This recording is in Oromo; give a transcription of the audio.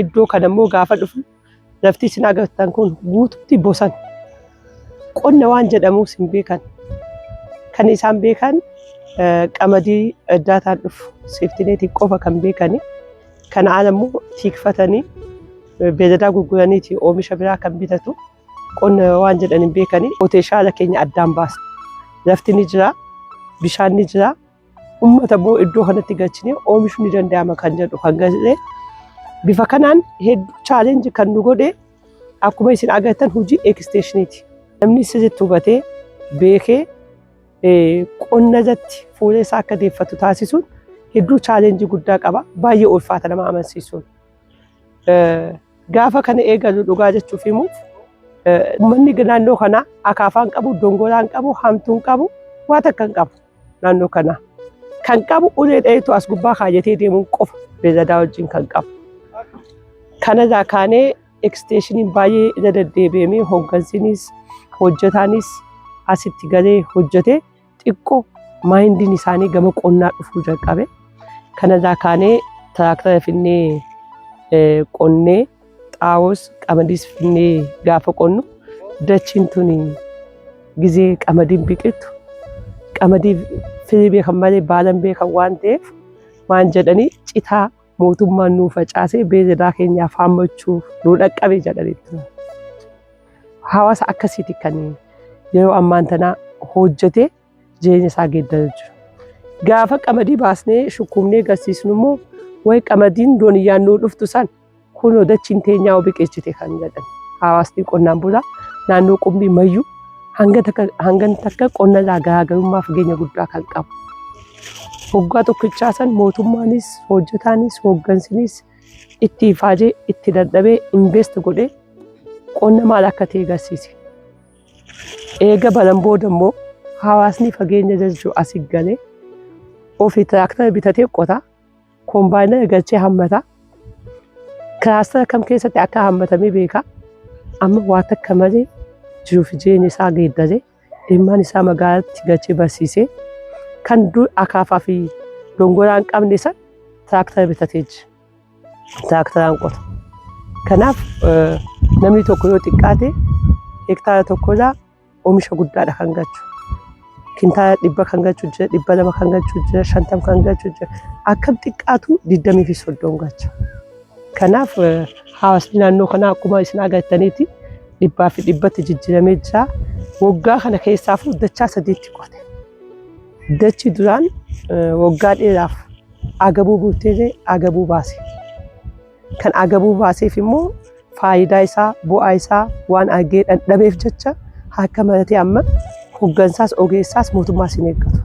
iddoo kana immoo gaafa dhufu lafti isin agartan kun guututti bosan qonna waan jedhamuus hin beekan kan isaan beekan qamadii addaataan dhufu seeftineetiin qofa kan beekani kan aan ammoo tiikfatanii beeladaa gurguraniiti oomisha biraa kan bitatu qonna waan jedhan hin beekani poteeshaala keenya addaan baasa lafti ni jira bishaan ni jira Uummata immoo iddoo kanatti galchinee oomishuu ni danda'ama kan jedhu kan galee bifa kanaan hedduu chaalenji kan nu godhe akkuma isin agartan hojii eksteeshiniiti. Namni sirriitti hubatee beekee qonna irratti fuula isaa akka deeffatu taasisuun hedduu chaalenji guddaa qaba. Baay'ee ulfaata nama amansiisuun. Gaafa kana eegalu dhugaa jechuuf immoo uummanni naannoo kanaa akaafaan qabu, dongoraan qabu, hamtuun qabu, waa takka hin qabu. naannoo kanaa kan qabu ulee dhaheetu as gubbaa kaayatee deemuun qofa beelladaa wajjin kan qabu. Kanarraa kaanee eksteeshiniin baay'ee irra deddeebi'amee hooggansinis hojjetaanis asitti galee hojjetee xiqqoo maayindiin isaanii gama qonnaa dhufuu jalqabe. Kanarraa kaanee tiraaktara finnee qonnee Xaa'oos qamadiis finnee gaafa qonnu dachiin tuni gizee qamadiin biqiltu qamadii firii beekan malee baalan beekan waan ta'eef waan jedhanii citaa mootummaan nuu facaasee beeyladaa keenyaaf haammachuuf nuu dhaqqabe jedhanii turan. Hawaasa akkasiiti kan yeroo ammaan tanaa hojjetee jireenya isaa geeddaree jiru. Gaafa qamadii baasnee shukkuumnee garsiisnu immoo wayi qamadiin dooniyyaan nuu dhuftu san kunoo dachiin teenyaa biqilchite kan jedhan hawaasni qonnaan bulaa naannoo qumbii mayyuu hangan takka qonna irraa garaagarummaa fageenya guddaa kan qabu. Waggaa tokkichaa san mootummaanis hojjetaanis hooggansinis itti ifaajee itti dadhabee invest godhee qonna maal akka ta'e garsiise. Eega banan booda immoo hawaasni fageenya jalchuu asi galee ofii tiraaktara bitatee qota, kombaayinara galchee hammata. Kiraastara kam keessatti akka hammatamee beeka. Amma waa takka malee jiruu fi jireenya isaa geeddaree ilmaan isaa magaalatti galchee barsiisee kan dur akaafaa fi dongoraan qabne san tiraaktara bitatee jira. tiraaktaraan qota. Kanaaf namni tokko yoo xiqqaate hektaara tokkorraa oomisha guddaadha kan galchu. Kintaala dhibba kan galchu jira, dhibba lama kan galchu jira, shantam kan galchu jira. Akkam xiqqaatu digdamii fi soddom galcha. Kanaaf hawaasni naannoo kanaa akkuma isin agartaniiti dhibbaa fi dhibbatti jijjiiramee jira. Waggaa kana keessaafuu dachaa sadiitti qote. Dachi duraan waggaa dheeraaf Agabuu guutteelee agabuu baase. Kan agabuu baaseef immoo faayidaa isaa, bu'aa isaa waan argee dhadhabeef jecha harka maratee amma hoggansaas, ogeessaas, mootummaas hin eeggatu.